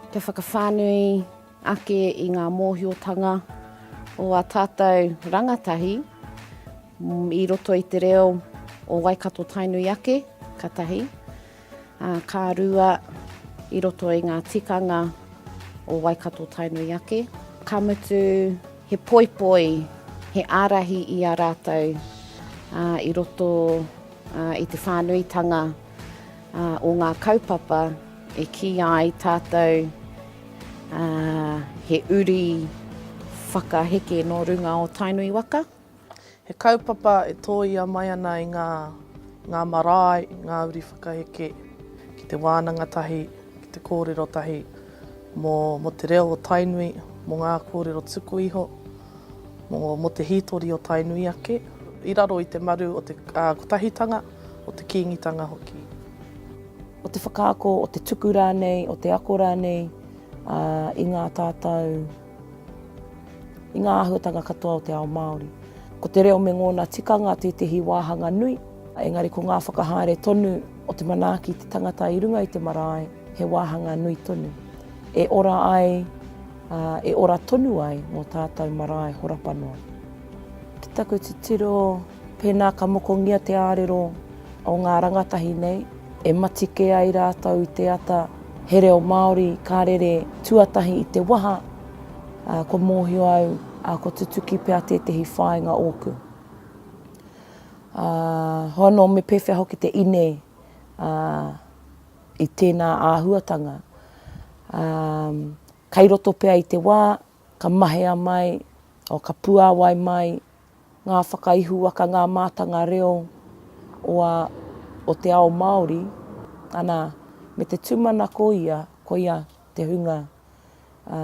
Te whakawhānui ake i ngā mōhiotanga o ā tātou rangatahi i roto i te reo o Waikato Tainui ake, ka tahi. ā, ka rua i roto i ngā tikanga o Waikato-Tainui ake, ka mutu he poipoi, he ārahi i a rātou i roto i te whānuitanga o ngā kaupapa e kī ai tātou he uri whakaheke nō runga o Tainui waka. He kaupapa e tōia mai ana i ngā, ngā marae, ngā uri whakaheke ki te wānanga tahi, ki te kōrero tahi mō, mō te reo o Tainui, mō ngā kōrero tuku iho, mō, mō te hītori o Tainui ake, i raro i te maru o te, ā, kotahitanga, o te Kīngitanga hoki. O te whakaako, o te tuku rānei, o te ako rānei, ā, i ngā tātau. I ngā āhuatanga katoa o te ao Māori, ko te reo me ngōna tikanga tētehi wāhanga nui, engari ko ngā whakahaere tonu o te manaaki te tangata i runga i te marae, he wāhanga nui tonu, e ora ai, ā, e ora tonu ai ngō tātou marae horapa noa. Ki taku titiro, pēnā ka mokongia te ārero o ngā rangatahi nei, E mati kē ai rātou i te ata, he reo Māori ka rere tuatahi i te waha, ā, kua mōhio au, ā, kua tutuki pea tētehi whāinga ōku. Ā, hoa anō me pēwhea hoki te ine, ā, i tēnā āhuatanga. Ā, kei roto pea i te wā, ka mahea mai, ō, ka puāwai mai. Ngā whakaihuwaka, ngā mātanga reo o a, o te ao Māori, ana, me te tūmanako ia, koia te hunga a,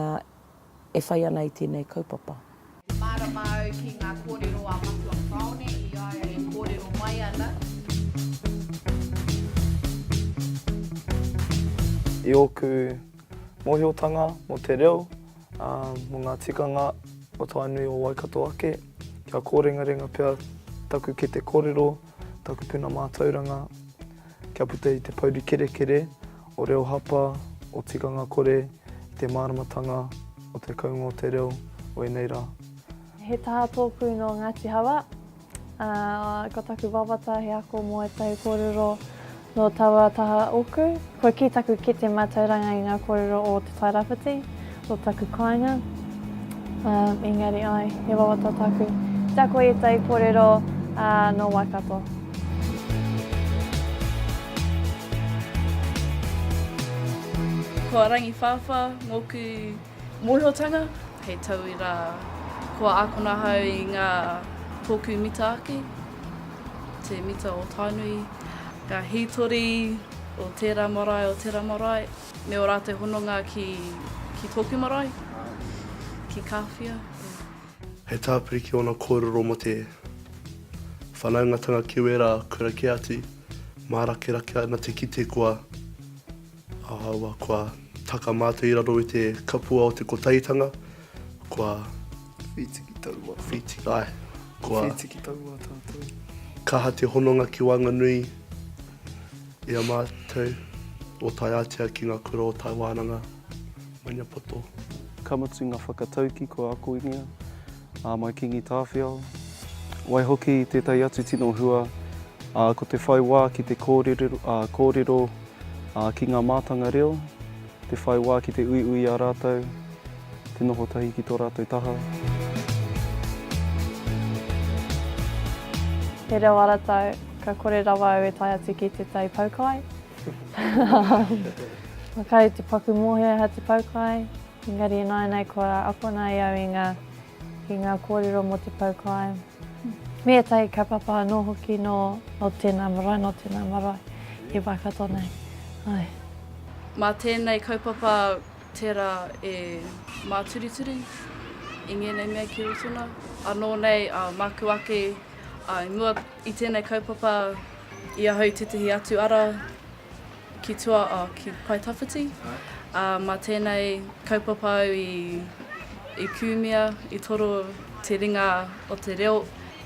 e whai ana i tēnei kaupapa. He mārama au ki ngā kōrero a Matua Parone i a ia e kōrero mai ana. I ōku mōhiotanga mō te reo, Mō ngā tikanga o Tainui o Waikato ake, kia kōrengarenga pea taku kete kōrero, taku puna mātauranga, kia puta i te pouri kerekere o reo hapa, o tikanga kore, i te māramatanga o te kounga o te reo, wēnei rā. He taha tōpū nō Ngāti Hawa, Ko taku wawata he ako mō ētahi kōrero nō taua taha ōku. Kua kī taku kete mātauranga i ngā kōrero o Te Tairāwhiti, o taku kāinga. Engari āe, he wawata taku te ako i ētahi kōrero nō Waikato. Ko Rangiwhāwhā ngōku Mōhiotanga, hei tauira, kua ākona ahau i ngā tōku mita ake, te mita o Tainui, ngā hītori o tērā marae, o tērā marae, me ō rātou hononga ki tōku marae, ki Kāwhia. He tāpiri ki ōna kōrero mō te whanaungatanga ki wērā kura kē atu, mārakerake ana te kite kua. Ahaua kua taka mātou i raro i te kapua o te Kotahitanga, kua. Whītiki taua. Whītiki, āe. Kua. Whītiki taua tātou. Kaha te hononga ki waenganui i a mātou, o Taiātea ki ngā kura o Taiwānanga, Maniapoto. Ka mutu ngā whakataukī kua akoingia, Ā mai Kingi Tāwhiao. Waihoki i tētahi atu tino hua, ā, ko te whai wā ki te kōrero, ā, ki ngā mātanga reo, te whai wā ki te uiui i a rātou, te noho tahi ki tō rātou taha. He reo aratau, ka kore rawa au e tae atu ki te tai poukai. Makare te paku mōhio e Hati Poukai. Engari ināianei kua akona e au i ngā, i ngā kōrero mō te pau kāinga. Me ētahi kaupapa anō hoki nō, nō tēnā marae, nō tēnā marae i Waikato nei. Ae. Mā tēnei kaupapa tērā e māturituri i ngēnei mea ki Rotona. Anō nei ā māku ake, ā i mua i tēnei kaupapa i ahau i tētahi atu ara Ki tua, oh, ki Paetawhiti. Ā, mā tēnei kaupapa au i, i kūmia, i toro te ringa o te reo,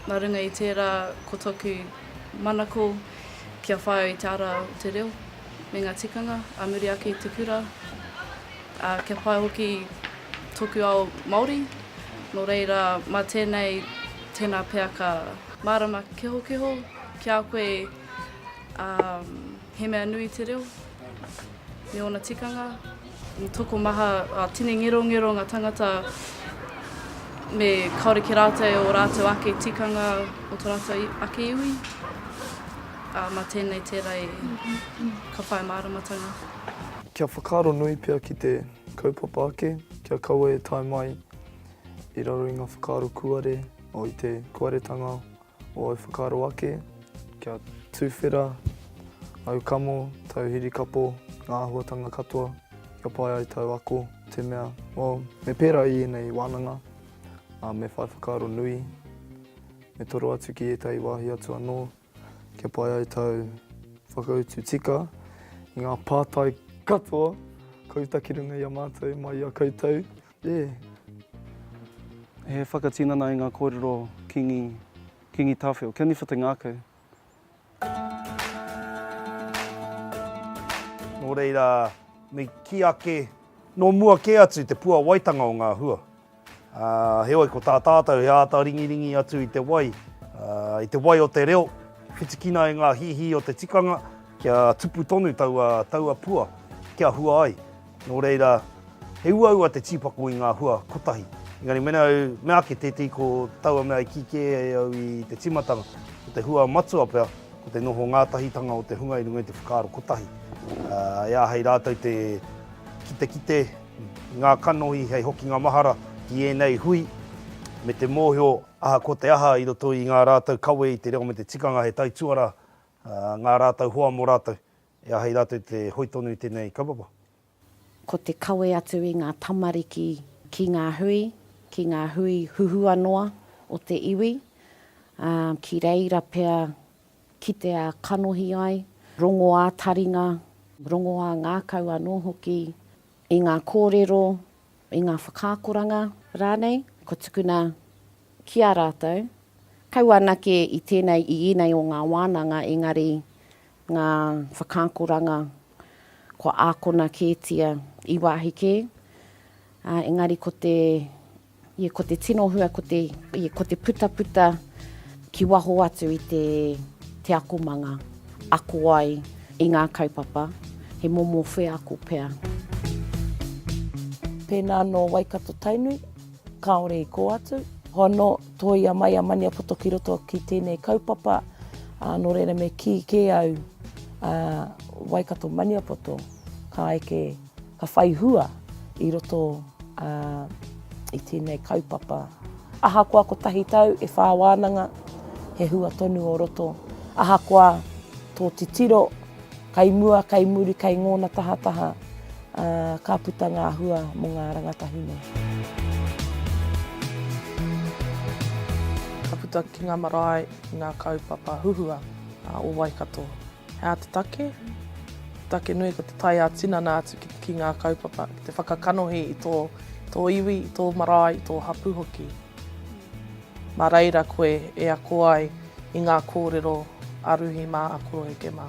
nā runga i tērā ko tōku manako kia whāia i te ara o te reo me ngā tikanga ā muri ake i te kura, ā, kia whāia hoki tōku ao Māori, nō reira, mā tēnei, tēnā pea ka. Mārama kehokeho ki a koe. Ā, he mea nui te reo me ōna tikanga. He tokomaha, ā, tini ngerongero ngā tangata me kāore ki rātou e ō rātou ake tikanga o tō rātou ake iwi. Ā, mā tēnei tērā e ka whai māramatanga. Kia whakaaro nui pea ki te kaupapa ake, kia kaua e tae mai i raro i ngā whakaaro kūare, o i te kūaretanga Ōu whakaaro ake, kia tuwhera, āu kamo, tāu hirikapo, ngā āhuatanga katoa, kia pai ai tāu ako, te mea, o, me pērā i ēnei wānanga, ā, me whai whakaaro nui, me toro atu ki ētahi wāhi atu anō, kia pai ai tāu whakautu tika i ngā pātai katoa ka uta ki runga i a mātou mai i a koutou. E. He whakatinana i ngā kōrero Kīngi, Kīngi Tāwhiao, kia niwha te ngākau. Nō reira, me kī ake, nō mua kē atu te puawaitanga o ngā hua. Ā, heoi, ko tā tātou he āta ringiringi atu i te wai, i te wai o te reo, whitikina e ngā hīhī o te tikanga, kia tupu tonu taua, taua pua, kia hua ai. Nō reira, he uaua te tīpako i ngā hua kotahi. Engari mēnā au mea ake tētehi ko taua mea i kī kē ai au i te tīmatanga, ko te hua matua pea, ko te noho ngātahitanga o te hunga i runga i te whakaaro kotahi. E āhei rātou te kitekite i ngā kanohi hei hokinga mahara ki ēnei hui, me te mōhio ahakoa te aha i roto i ngā rātou kawe i te reo me te tikanga he taituara ngā rātou hoa mō rātou. E aha i rātou te hoi tonu i tēnei kaupapa? Ko te kawe atu i ngā tamariki ki ngā hui, ki ngā hui huhua noa o te iwi, ā, ki reira pea kitea kanohi ai, rongoā taringa, rongoā ngākau anō hoki i ngā kōrero, i ngā whakaakoranga rānei kua tukuna ki a rātou. Kaua anake i tēnei, i ēnei o ngā wānanga, engari ngā whakaakoranga kua ākona kētia i wāhi kē, ā, engari ko te, ia, ko te tino hua, ko te, ia, ko te putaputa ki waho atu i te, te akomanga, ako ai i ngā kaupapa, he momo wheako pea. Pēnā nō Waikato-Tainui. Kāore i kō atu. Hono, tōia mai a Maniapoto ki roto ki tēnei kaupapa, ā, nō reira me kī kē au, ā, Waikato Maniapoto, ka eke, ka whai hua i roto, ā, i tēnei kaupapa. Ahakoa kotahi tau e whā wānanga, he hua tonu o roto. Ahakoa tō titiro, Kai mua, kai muri, kai ngōna tahataha, ā, ka puta ngā hua mō ngā rangatahune. Ka puta ki ngā marae, ki ngā kaupapa huhua o Waikato. He aha te take? Te take nui ko te tae ā-tinana atu ki ngā kaupapa, ki te whakakanohi i tō iwi, i tō marae, i tō hapū hoki. Mā reira koe e ako ai i ngā kōrero a Ruhi mā, a Koroheke mā.